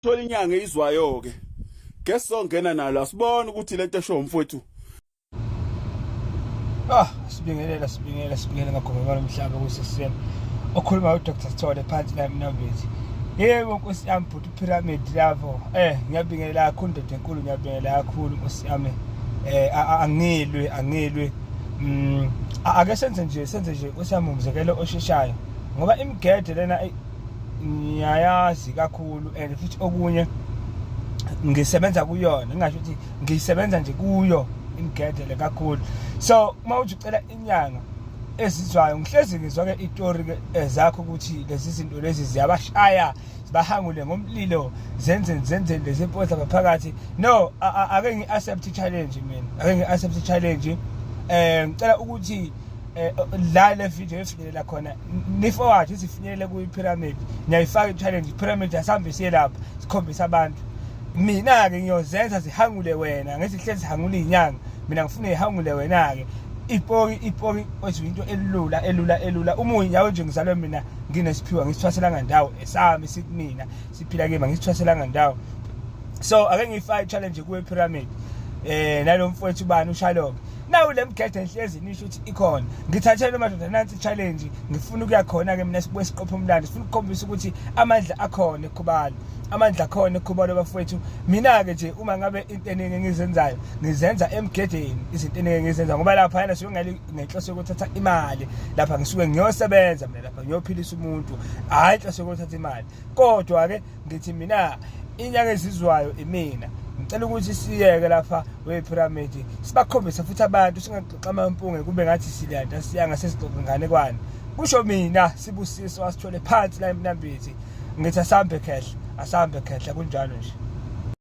thola inyanga eyizwayo ke guess songena nalo asibone ukuthi lento esho umfowethu ah sibingelela sibingelela sibingelela ngagomela umhlaba kusesisema okhuluma uDr Sithole phansi la mnambithi yebo nkosi yami bhuti pyramid lapho eh ngiyabingelela kakhulu ndoda enkulu ngiyabingelela kakhulu nkosi yami eh angilwe angilwe mm ake senze nje senze nje nkosi yami umzekelo osheshayo ngoba imigede lena ngiyayazi kakhulu and futhi okunye ngisebenza kuyona ngingasho ukuthi ngisebenza nje kuyo ingigedele kakhulu so uma uthi ucela inyanga ezizwayo ngihlezi ngizwa-ke itori-ke eh, zakho ukuthi lezi zinto lezi ziyabashaya bahangule ngomlilo zenzeni zenzeni lezi mpodla ngaphakathi no ake ngi-accept i-challenge mina ake ngi-accept i-challenge um ngicela ukuthi eh, la le video efinyelela khona niforward isifinyelele kwi-pyramid niyayifaka i-challenge i-pyramid asihambe siye lapha sikhombise abantu mina-ke ngiyozenza zihangule wena ngesihlezi zihangule iy'nyanga mina ngifuna ihangule wena-ke ipori ipori kwethu into elula elula elula uma uyinyawo nje ngizalwe mina nginesiphiwa ngisithwaselanga ndawo esami sikumina siphila kima ngisithwaselanga ndawo so ake ngiyifake i-challenge kuwe pyramid eh nalomfowethu bani ushaloke nawu le mgede enhlezi nisho ukuthi ikhona ngithathele madoda nansi challenge ngifuna ukuya khona ke mina sibuye siqophe umlando sifuna ukukhombisa ukuthi amandla akhona ekhubalo amandla akhona ekhubalo bafowethu mina ke nje uma ngabe into eningi engizenzayo ngizenza emgedeni izinto eningi engizenza ngoba lapha yana suke ngale ngenhloso yokuthatha imali lapha ngisuke ngiyosebenza mina lapha ngiyophilisa umuntu hayi inhloso yokuthatha imali kodwa ke ngithi mina inyanga ezizwayo imina ngicela ukuthi siyeke lapha we-pyramid sibakhombise futhi abantu singaxoxa amampunge kube ngathi silanda siyanga sesixoxa inganekwane kusho mina sibusiso asithole phansi la emnambithi ngithi asambe khehle asambe khehle kunjalo nje